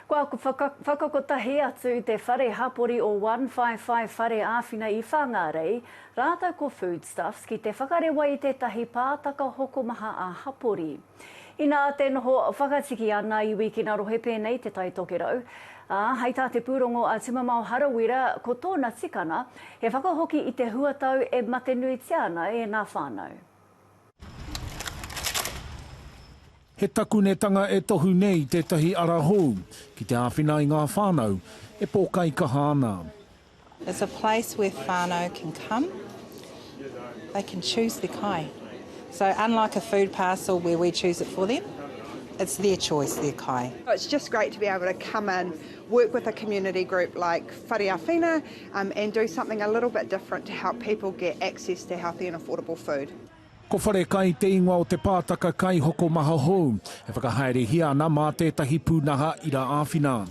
Kua whakakotahi atu te whare hapori o One Five Five Whare Āwhina i Whāngārei rātou ko Foodstuffs ki te whakarewa i tētahi pātaka hokomaha ā-hapori. Inā te noho whakatiki a ngā iwi ki ngā rohe pēnei te Tai Tokerau, ā, hei tā te pūrongo a Tumamao Harawira ko tōna tikanga he whakahoki i te huatau e matenuitia ana e ngā whānau. He takunetanga e tohu nei tētahi ara hou ki te āwhina i ngā whānau e pōkaikaha ana. It's a place where whānau can come, they can choose their kai. So unlike a food parcel where we choose it for them, it's their choice, their kai. It's just great to be able to come in, work with a community group like Whare Awhina and do something a little bit different to help people get access to healthy and affordable food. Ko Wharekai te ingoa o te pātaka kaihokomaha hou, e whakahaerehia ana mā tētahi pūnaha ira āwhina.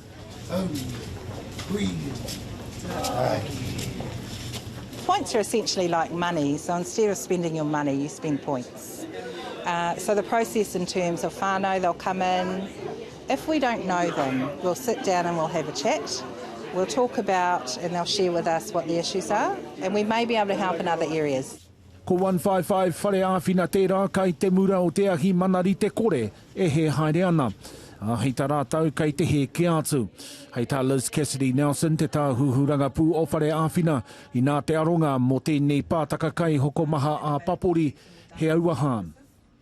Points are essentially like money, so instead of spending your money, you spend points. Uh, so the process in terms of whānau, they'll come in, If we don't know them, we'll sit down and we'll have a chat, we'll talk about and they'll share with us what the issues are and we may be able to help in other areas. Ko One Five Five whare āwhina tērā kai te mura o te ahi manarite kore e hē haere ana. Ā, hei tā rātou kai te hē kē atu. Hei tā Liz Cassidy Nelson, te tāhuhu rangapū o whare āwhina, inā te aronga mō tēnei pātaka kai hokomaha ā-papori, he auaha.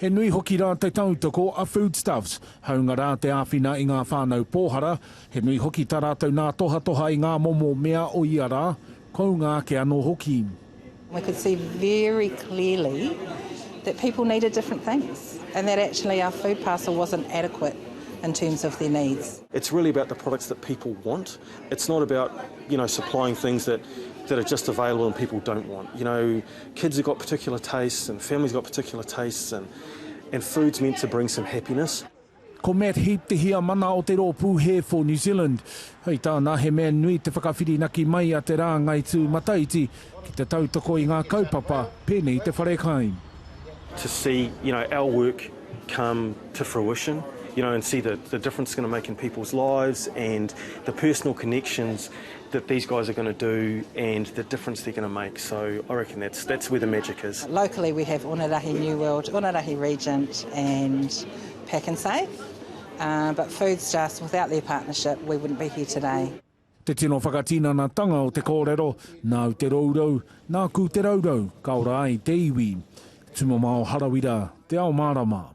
He nui hoki rā te tautoko a Foodstuffs, hāunga rā te āwhina i ngā whānau pōhara, he nui hoki tā rātou nā tohatoha i ngā momo mea o ia rā, kounga ake anō hoki. We could see very clearly that people needed different things and that actually our food parcel wasn't adequate in terms of their needs. It's really about the products that people want, it's not about, you know, supplying things that that are just available and people don't want. You know, Kids have got particular tastes and families have got particular tastes and and food's meant to bring some happiness. Ko Matt Heap te Heamana o te rōpū Hair for New Zealand. Hei tāna, he mea nui te whakawhirinaki mai a te rāngai tūmataiti ki te tautoko i ngā kaupapa, pēnei i te wharekai. to see you know our work come to fruition you know and see the the difference it's going to make in people's lives and the personal connections that these guys are gonna do and the difference they're gonna make so I reckon that's that's where the magic is. Locally we have Onerahi New World, Onerahi Regent and Pak'nSave uh, but Foods Just without their partnership we wouldn't be here today. Te tino whakatinanatanga o te kōrero, nāu te rourou, nāku te raurau, ka ora ai te iwi. Tumamao Harawira, Te Ao Mārama.